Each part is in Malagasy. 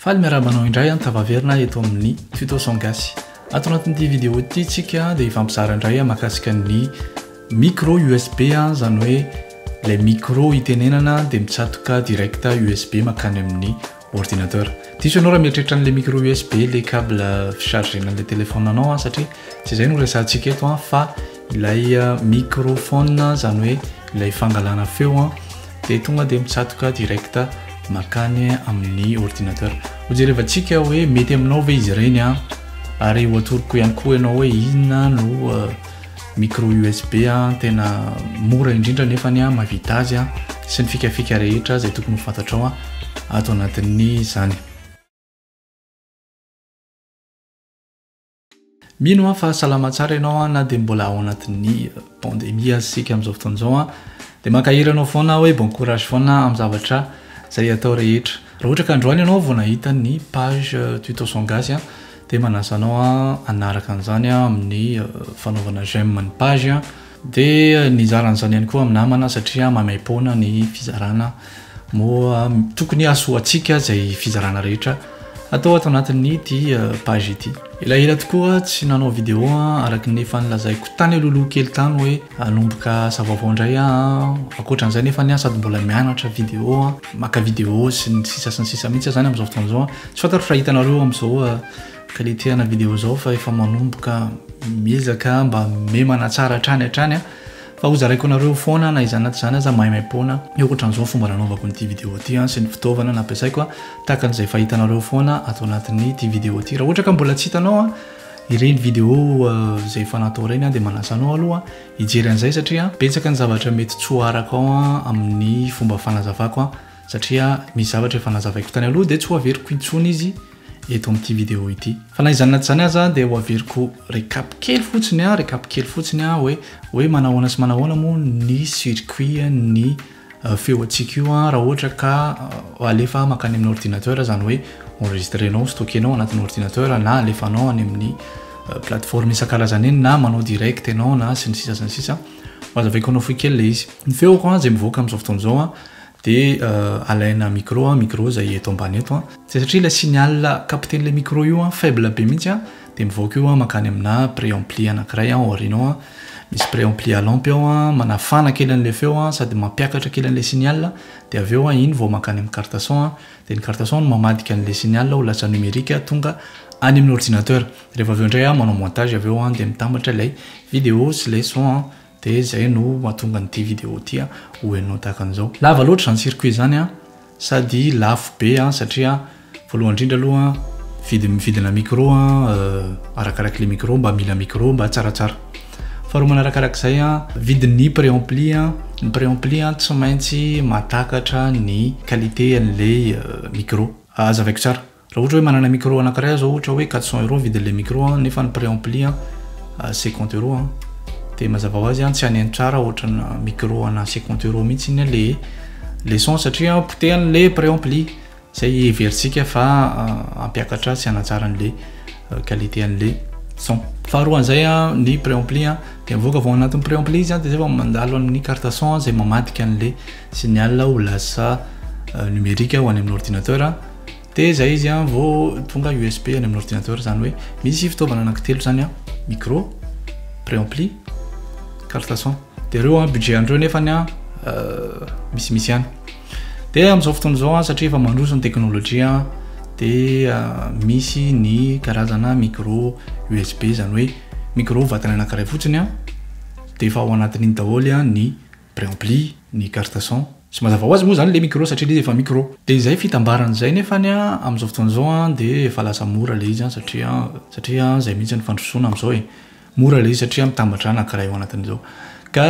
Faly miarahaba anao indray an, tafaverina eto amin'ny Tutos en gasy. Ato anatin'ity vidéo ity tsika dia hifampizara indray an mahakasika ny micro USB an, izany hoe ilay micro hitenenana dia mitsatoka direct USB mankany amin'ny ordinateur. Diso ianao raha mieritreritra an'ilay micro USB ilay cable fi-chargena an'ilay téléphone anao an, satria tsy izay no resahantsika eto an, fa Ilay microphone izany hoe ilay fangalana feo an, dia tonga dia mitsatoka direct makany amin'ny ordinateur. Ho jerevantsika hoe mety aminao ve izy ireny an, ary ho atoroko ihany koa ianao hoe inona no micro USB an, tena mora indrindra nefa ny an mahavita azy an, sy ny fikafika rehetra izay tokony ho fantatrao an ato anatin'izany. Mino aho fa salama tsara ianao an, na dia mbola ao anatin'ny pandemie aza isika amin'izao fotoana izao an, dia mankahery anao foana aho hoe bon courage foana amin'ny zavatra izay atao rehetra. Raha ohatra ka androany ianao vao nahita ny page tuto son gasy an, dia manasa anao hanaraka an'izany amin'ny fanaovana j'aime ny page an. Dia nizara an'izany ihany koa amin'ny namana satria maimaim-poana ny fizarana moa tokony hahasoantsika izay fizarana rehetra atao ato anatin'ity page ity. Elaela tokoa tsy nanao vidéo araka ny efa nilazaiko tany alohaloha kely tany hoe hanomboka asa vaovao indray aho. Ankoatran'izay nefany aho sady mbola mianatra vidéo, maka vidéo sy ny sisa sy ny sisa mihitsy aho izany amin'izao fotoana izao. Tsy fantaro fa hitanareo amin'izao Qualité ana vidéo zao fa efa manomboka miezaka mba memana tsara hatrany hatrany a fa ho zaraiko anareo foana na izany na tsy izany aza maimaimpoana ny ohatran'izao ny fomba nanaovako ny ity vidéo ity a sy ny fitaovana nampiasaiko a tahaka an'izay efa hitanareo foana ato anatin'ny ity vidéo ity raha ohatra ka mbola tsy hitanao a ireny vidéo izay efa natao ireny a dia manasa anao aloha hijery an'izay satria betsaka ny zavatra mety tsoarako ao a amin'ny fomba fanazavako a satria misy zavatra efa nazavaiko tany aloha dia tsy ho averiko intsony izy eto amin'ity vidéo ity. Fa na izany na tsy izany aza dia ho averiko recap kely fotsiny a, recap kely fotsiny a hoe hoe manahoana sy manahoana moa ny circuit ny feo antsika io a raha ohatra ka alefa makany amin'ny ordinateur izany hoe enregistrenao, stockenao anatin'ny ordinateur na alefanao any amin'ny plateforme isan-karazany eny na manao direct ianao na sy ny sisa sy ny sisa. Ho azavaiko anao fohy kely ilay izy. Ny feoko a izay mivoaka amin'izao fotoana izao a Dia alaina micro an, micro izay eto ambany eto an. Dia satria ilay signal capten'ilay micro io an faible be mihitsy an, dia mivoaka io an mankany aminà préampli anankiray an aoriana ao an, misy préampli à lampe ao an, manafana kely an'ilay feo an sady mampiakatra kely an'ilay signal, dia avy eo an iny vao mankany amin'ny carte son an, dia ny carte son no mamadika an'ilay signal ho lasa numérique tonga any amin'ny ordinateur. Rehefa avy eo indray an manao montage avy eo an dia mitambatra ilay vidéo sy ilay son an Dia izay no mahatonga an'ity vidéo ity ho henonao tahaka an'izao. Lava loatra izany circuit izany an! Sady lafo be an! Satria voalohany indrindra aloha an, vidina micro an, arakaraky le micro, mba mila micro mba tsaratsara. Faharoa manarakaraka izay an, vidin'ny préampli an, ny préampli an tsy maintsy mahatakatra ny qualité an'ilay micro. Hazavaiko tsara. Raha ohatra hoe manana micro anankiray aho zao ohatra hoe quatre cents euros vidin'ilay micro an, nefa ny prix ampli an cinquante euros an, dia mazava ho azy an tsy haneno tsara ohatrana micro ana cinquante euros mihitsy iny an le le son satria an potehany le prix ampli, zay heverintsika fa hampiakatra sy hanatsara an'le qualité an'le son. Faharoa an'izay an ny prix ampli an dia mivoaka vao anatin'ny prix ampli izy an dia zay vao mandalo amin'ny carte son an zay mamadika an'le signal ho lasa numerique ho any amin'ny ordinateur. Dia izay izy an, vao tonga USB any amin'ny ordinateur, izany hoe misy fitaovana anankitelo izany an, micro, préampli, carte son. Dia ireo an, budget an'ireo nefa an, misimisy ihany. Dia amin'izao fotoana izao an, satria efa mandroso ny teknolojia an, dia misy ny karazana micro USB, izany hoe micro vatany anankiray fotsiny an, dia efa ao anatin'iny daholo an ny Préampli ny carte son. Tsy mazava ho azy moa izany ilay micro satria ilay izy efa micro. Dia izay fitambarany izay nefany an, amin'izao fotoana izao an, dia efa lasa mora ilay izy an, satria an, satria an, izay mihitsy no fandrosoana amin'izao e. Mora ilay izy satria mitambatra anankiray ao anatin'izao. Ka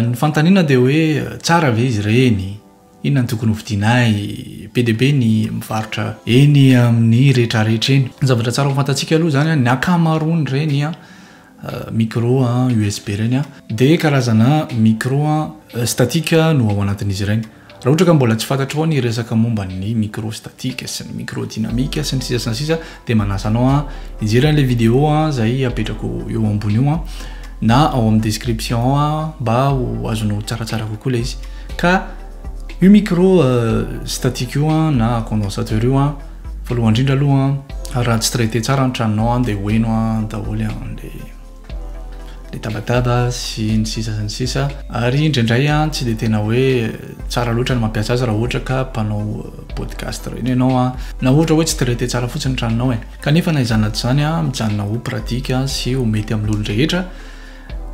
ny fanontaniana dia hoe tsara ve izy ireny? Inona no tokony hovidiana ahy? Be dia be ny mivarotra eny amin'ny rehetrarehetra eny. Ny zavatra tsara ho fantantsika aloha izany, ny ankamaroan'ireny micro USB ireny dia karazana micro statique no ao anatin'izy ireny. Raha ohatra ka mbola tsy fantatrao ny resaka momba ny micro statique sy ny micro dynamique sy ny sisa sy ny sisa Dia manasa anao hijery an'ilay vidéo izay apetrako eo ambony io na ao amin'ny description ao mba ho azonao tsaratsara kokoa ilay izy. Ka io micro statique io na condensateur io voalohany indrindra aloha raha tsy traité tsara ny tranonao dia hoheno daholo ilay le tabataba sy ny sisa sy ny sisa ary indraindray an tsy de tena hoe tsara loatra ny mampiasa azy raha ohatra ka mpanao podcast ireny ianao an na ohatra hoe tsy traité tsara fotsiny tranonao e kanefa na izany na tsy izany an mijanona ho pratique sy ho mety amin'olon-drehetra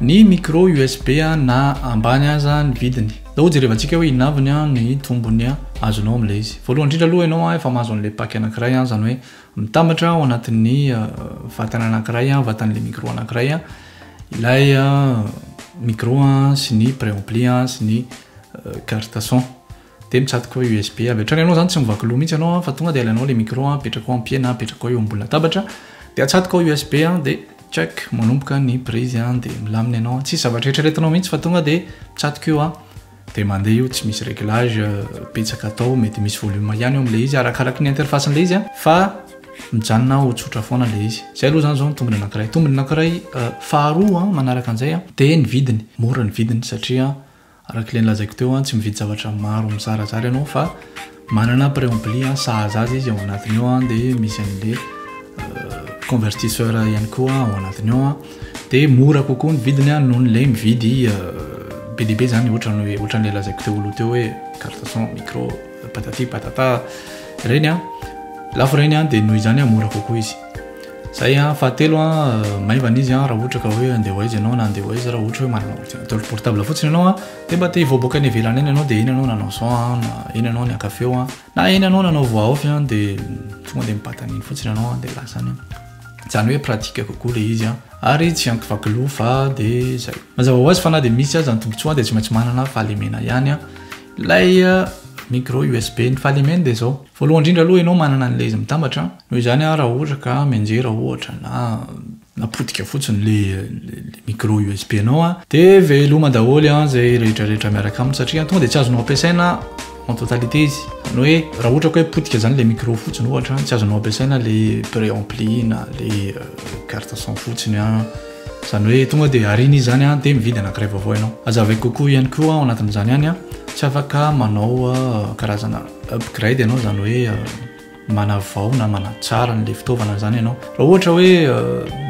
ny micro USB an na ambany aza ny vidiny zao jerevantsika hoe inaviny an ny tombony an azonao amin'ilay izy voalohany indrindra aloha ianao an efa mahazo an'ilay pack anankiray an izany hoe Mitambatra ao anatin'ny vatana anankiray, vatan'ilay micro anankiray, ilay micro sy ny préampli sy ny carte son. Dia mitsatoka USB. Avy hatrany ianao izany tsy mivaky loha mihitsy ianao fa tonga dia alainao ilay micro apetrako eo am-piana, apetrako eo ambony latabatra, dia atsatoka ao USB dia tchac, manomboka ny prise dia milamina ianao. Tsy zavatra eritreretinao mihitsy fa tonga dia mitsatoka eo. Dia mandeha io tsy misy réglage betsaka atao mety misy volume ihany eo amin'ilay izy arakaraky ny interface an'ilay izy fa mijanona ho tsotra foana ilay izy izay aloha izany izao ny tombony anankiray tombony anankiray euh, faharoa an manaraka an'izay an dia ny vidiny mora ny vidiny satria araka ilay nilazaiko teo an tsy mividy zavatra maro mizarazara ianao fa Manana préampli a, sahaza azy izy ao anatiny ao a, de misy an'le convertisseur ihany koa ao anatiny ao a, de mora kokoa ny vidiny a noho le mividy be dia be zany ohatran'ny hoe ohatran'le lazaiko teo aloha teo hoe carte son, micro, patati patata reny a, lafo reny a, de noho izany a mora kokoa izy. Zay a, fahatelo a, maivana izy a raha ohatra ka hoe andeha ho aiza ianao na andeha ho aiza raha ohatra hoe manana ordinateur portable fotsiny ianao a. Dia mba te hivoaboaka any ivelany any ianao dia eny ianao nanao izao an, na eny ianao niakavy eo an, na eny ianao nanao voaofy an, dia tonga dia mipatana eny fotsiny ianao an, dia lasa any an. Izany hoe pratique kokoa ilay izy an, ary tsy ankivaky lova, dia izay. Mazava ho azy fa na dia misy aza ny tombontsoa an, dia tsy maintsy manana fahalemena ihany an, ilay micro USB. Ny fahalemeny dia izao, voalohany indrindra aloha ianao manana an'ilay izy mitambatra an, noho izany an, raha ohatra ka mianjera ohatra na na potika fotsiny le micro USB nao a de veloma daholo a zay rehetra rehetra miaraka aminy satria tonga de tsy azonao ampiasaina en totalité izy zany hoe raha ohatra ka hoe potika zany le micro fotsiny ohatra tsy azonao ampiasaina le pré ampli na le carte son fotsiny a zany hoe tonga de arina izy zany a de mividy anakiray vaovao ianao aza avy kokoa ihany koa ao anatin'izany ihany a tsy afaka manao karazana upgrade ianao zany hoe manavao na manatsara an'ilay fitaovana izany ianao raha ohatra hoe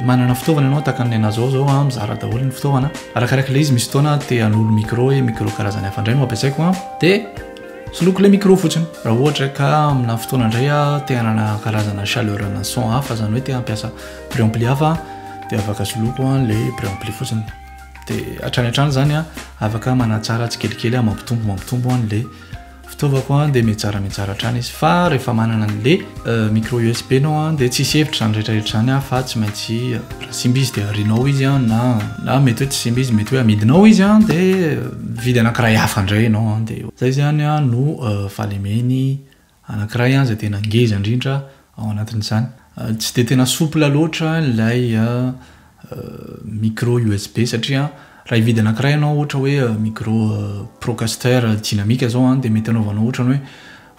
manana fitaovana ianao tahaka ny anazao zao a mizara daholo ny fitaovana arakaraka ilay izy misy fotoana te hanolo micro hoe micro karazany hafa indray no ampiasaiko a dia soloko ilay micro fotsiny raha ohatra ka amina fotoana indray a te hanana karazana chaleur ana son hafa izany hoe te hampiasa préampli hafa dia afaka soloko a ilay préampli fotsiny dia hatrany hatrany izany a afaka manatsara tsikelikely a mampitombo mampitombo an'ilay Fitaovako an dia mitsara mitsara hatrany izy fa rehefa manana anle micro usb nao an dia tsisy hevitra zany rehetra rehetra zany an fa tsy maintsy raha simba izy dia arinao izy an na na mety hoe tsy simba izy mety hoe amidinao izy an dia mividy anakiray hafa ndray enao an dia zay zany an no fahalemeny anakiray an zay tena ngeza ndrindra ao anatin'izany. Tsy dia tena souple loatra ilay micro USB satria raha hividy anankiray ianao ohatra hoe micro procaster dynamique izao dia mety hanaovanao ohatra ny hoe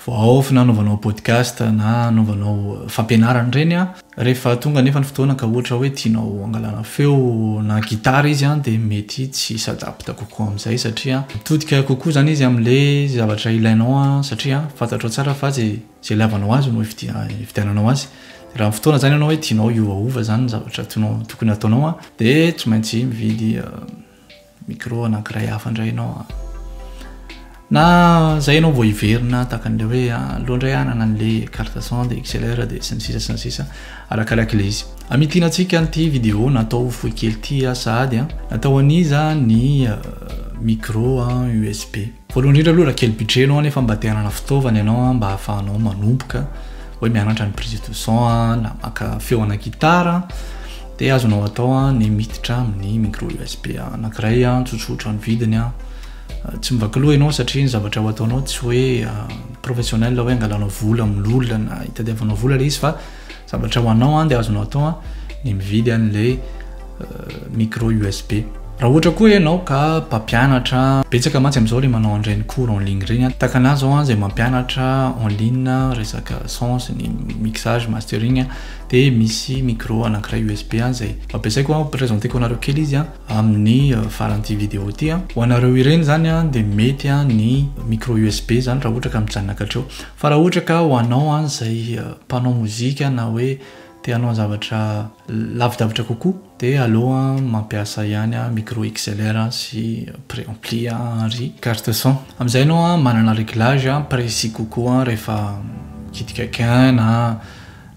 vao off na hanaovanao podcast na hanaovanao fampianarana ireny rehefa tonga anefa ny fotoana ka ohatra hoe tianao hangalana feo na gitara izy dia mety tsy s'adapte kokoa amin'izay satria mitodika kokoa izany izy amin'ilay zavatra ilainao satria fantatrao tsara fa izay Izay ilavanao azy no hividiananao azy. Dia raha fotoana izany ianao hoe tianao hiovaova izany ny zavatra tianao, tokony hataonao an, dia tsy maintsy mividy micro anankiray hafa indray ianao an. Na izay ianao vao hiverina tahaka an'ilay hoe aleo indray hanana an'ilay carte son dia XLR dia sy ny sisa sy ny sisa arakarak'ilay izy. Hamintina antsika an'ity vidéo natao fohy kely ity sahady an, natao an'iza ny micro USB. Voalohany indrindra aloha raha kely budget ianao nefa mba te hanana fitaovana ianao an, mba ahafahanao manomboka hoe mianatra ny prise de son an, na maka feo ana guitare an, dia azonao atao an ny miditra amin'ny micro USB anankiray an, tsotsotra ny vidiny an, tsy mivaky loha ianao satria ny zavatra ho ataonao tsy hoe professionnel hoe angalanao vola amin'ny olona na hitadiavanao vola ilay izy fa Zavatra ho anao an dia azonao atao an ny mividy an ilay micro USB. Raha ohatra koa ianao ka mpampianatra, betsaka mantsy amin'izao ilay manao an'ireny cours en ligne ireny an, tahaka anah izao an izay mampianatra en ligne resaka son sy ny mixage, mastering an, dia misy micro anankiray USB an izay ampiasaiko an, ho presenteko anareo kely izy an amin'ny faran'ity video ity an. Ho anareo ireny izany an dia mety an ny micro USB izany raha ohatra ka mijanona hatreo. Fa raha ohatra ka ho anao an izay mpanao mozika na hoe te hanao zavatra lavidavitra kokoa dia aleo an mampiasa ihany an micro XLR an sy préampli an ary carte son amin'izay enao an manana réglage an précis kokoa an rehefa mikitika gain na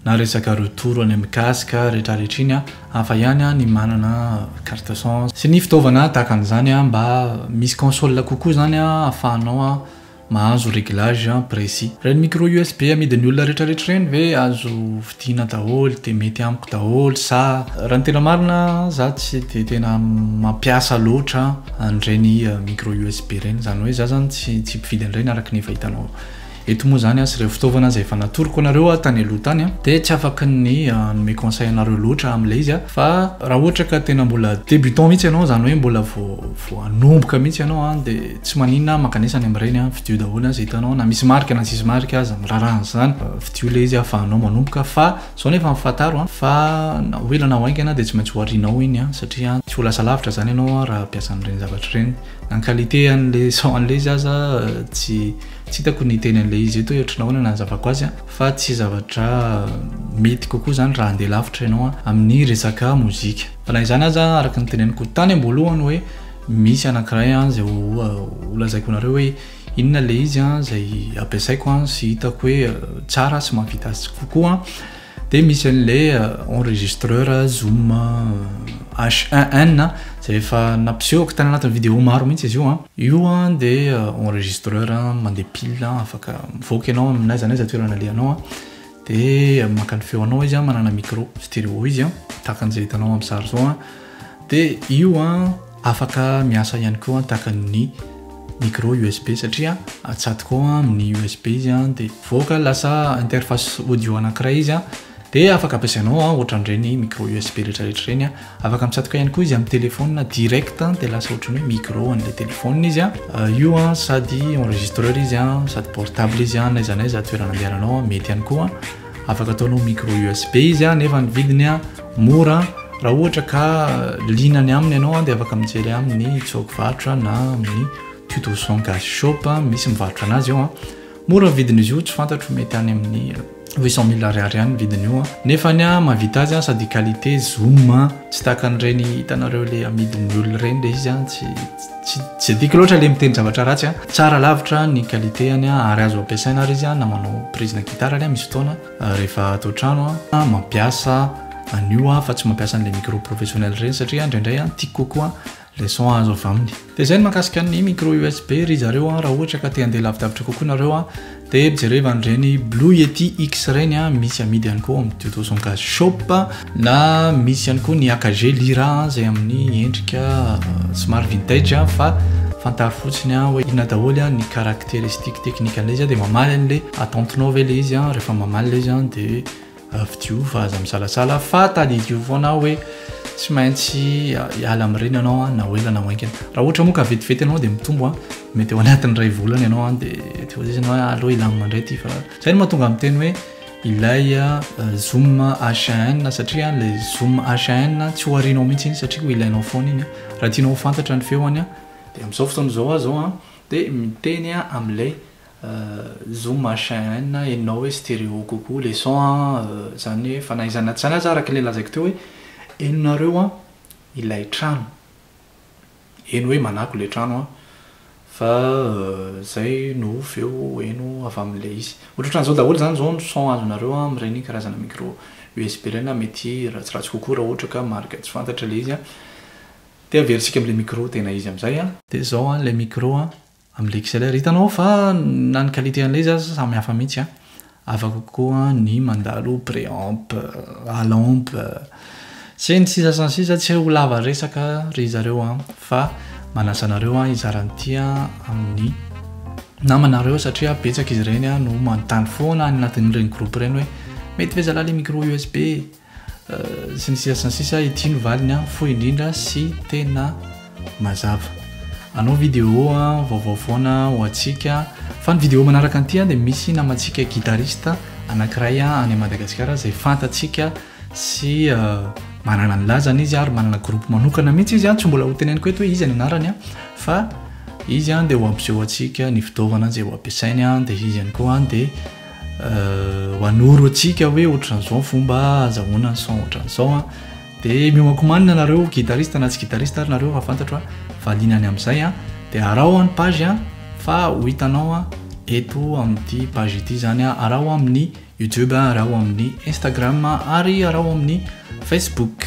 na resaka retour any amin'ny casque retraretra iny an hafa ihany an ny manana carte son sy ny fitaovana tahaka an'izany an mba misy console kokoa izany an afahanao an Mahazo reglage precis. Reny micro usb amidin'ny olona retraretra reny ve azo vidiana daholo de mety amiko daholo sa. Raha ny tena marina za tsy de tena mampiasa loatra an'ireny micro usb ireny zany hoe za zany tsy tsy mpividy an'ireny araka ny efa hitanao eto moa zany sy ireo fitaovana izay efa natoroko anareo aho tany aloha tany dia tsy afaka ny hanome conseil anareo loatra amin'ilay izy aho fa raha ohatra ka tena mbola débutant mihitsy ianao zany hoe mbola vao Vao hanomboka mihitsy ianao an dia tsy maninona an, mankanesa any amin'ireny an, fidio daholo an izay hitanao na misy marika na tsisy marika aza, miraharaha an'izany, fidio ilay izy ahafahanao manomboka fa izao nefa an fantaro an fa na ho ela na ho haingana dia tsy maintsy ho arianao iny an satria an tsy ho lasa lavitra izany ianao an raha mpiasa an'ireny zavatra ireny. Na ny qualité an'ilay son an'ilay izy aza tsy tsy hitako ny hiteny an'ilay izy eto hoe ohatran'ny ahoana ny hanazavako azy an fa tsy zavatra mety kokoa izany raha handeha lavitra ianao an amin'ny resaka mozika. Fa na izany aza, araka ny teneniko tany am-boalohany hoe misy anankiray izay holazaiko anareo hoe inona ilay izy izay ampiasaiko sy hitako hoe tsara sy mahavita azy kokoa dia misy an'ilay enregistreur Zoom H1N izay efa nampisehoko tany anatin'ny vidéo maro mihitsy izy io. Io dia enregistreur mandeha pile afaka mivoaka ianao amin'aiza n'aiza toerana alehanao Dia maka ny feonao izy an, manana micro stéréo izy an, tahaka an'izay hitanao amin'ny sary izao an. Dia io an, afaka miasa ihany koa an, tahaka ny micro USB satria atsatoka ao amin'ny USB izy an, dia mivoaka lasa interface audio anankiray izy an, dia afaka ampiasainao an, ohatran'ireny micro USB rehetra rehetra ireny an. Afaka mitsatoka ihany koa izy amin'ny téléphone direct dia lasa ohatry ny hoe micro an'ilay téléphone izy an. Io an sady enregistreur izy an, sady portable izy an, n'aiza n'aiza toerana andehananao an, mety ihany koa. Afaka ataonao micro USB izy an, nefa ny vidiny an mora an, raha ohatra ka liana any aminy ianao an dia afaka mijery amin'ny tsôky varotra na amin'ny tuto son gas shop misy mivarotra an'azy eo an. Mora ny vidin'izy io, tsy fantatro, mety any amin'ny. huit cent mille ariary ihany ny vidin'io an nefa ny an mahavita azy an sady qualité zoom an tsy tahaka an'ireny hitanareo le amidin'ny olona ireny le izy an tsy tsy tsy adiko loatra le miteny zavatra ratsy an tsara lavitra ny qualité any an ary azo ampiasaina ary izy an na manao prise na guitare any an misy fotoana rehefa ato an-trano an mampiasa an'io an fa tsy mampiasa an'le micro professionnel ireny satria indraindray an tiako kokoa Leçon azo avy aminy. Dia izay ny mahakasika ny micro USB ry zareo a, raha ohatra ka te handeha lavidavitra kokoa nareo a, dia jereva an'ireny Blue Yeti X ireny a, misy amidy ihany koa ao amin'ny Tuto Son Case Shop, na misy ihany koa ny AKG Lyra izay amin'ny endrika somary vintage fa fantaro fotsiny a hoe inona daholo a ny caractéristiques techniques an'ilay izy a, dia mamaly an'ilay attente-nao ve ilay izy a, rehefa mamaly ilay izy a dia. Avy Diova aza misalasala fa tadidio foana hoe tsy maintsy hiala amin'ireny ianao na ho ela na ho haingana. Raha ohatra moa ka vetivety ianao dia mitombo, mety eo anatin'ny iray volana ianao dia tsy voatery ianao hoe aleo hilamina indray ity fa izay no mahatonga ahy miteny hoe ilay zoom HAN satria ilay zoom HAN tsy ho arianao mihitsy iny satria ho ilainao foana iny. Raha tianao ho fantatra ny feony dia amin'izao fotoana izao aho izao dia miteny amin'ilay Zo machin enao hoe stereo kokoa le son an, zany hoe fa na iza na izany aza araka le lazaiko teo hoe heno nareo an ilay trano, heno hoe manako le trano an, fa zay no feo heno avy amle izy, ohatrohatranzao daholo zany zao ny son azonareo an amreny karazana micro usb reny an mety ratsiratsy kokoa ra ohatra ka marika tsy fantatra le izy an, de averisika amle micro tena izy amzay an. De zao an le micro an Amin'ilay XLR. Hitanao fa na ny qualité an'ilay izy aza samy hafa mihitsy an. Hafa kokoa ny mandalo préamp, alamp, sy ny sisa sy ny sisa. Tsy ho lava resaka ry zareo an, fa manasa anareo an hizara an'ity amin'ny namanareo satria betsaka izy ireny no manontany foana any anatin'ireny groupe ireny hoe mety ve zalahy le micro USB? Sy ny sisa sy ny sisa, ity no valiny an, fohy indrindra sy tena mazava. Anao vidéo an, vaovao foana ho antsika. Fa ny vidéo manaraka an'ity an dia misy namantsika guitariste anankiray an any Madagasikara izay fantatsika sy manana ny lazany izy ary manana groupe manokana mihitsy izy an, tsy mbola ho teneniko eto hoe iza ny anarany an, fa izy an dia ho ampiseho antsika ny fitaovana izay ho ampiasainy an, dia izy ihany koa an dia. ho anoro antsika hoe ohatran'izao ny fomba azahoana ny son ohatran'izao a dia mihomankomanina nareo guitariste na tsy guitariste ary nareo raha fantatro a valiana any amin'izay a dia araho any page a fa ho hitanao a eto amin'ity page ity izany a araho amin'ny youtube araho amin'ny instagram ary araho amin'ny facebook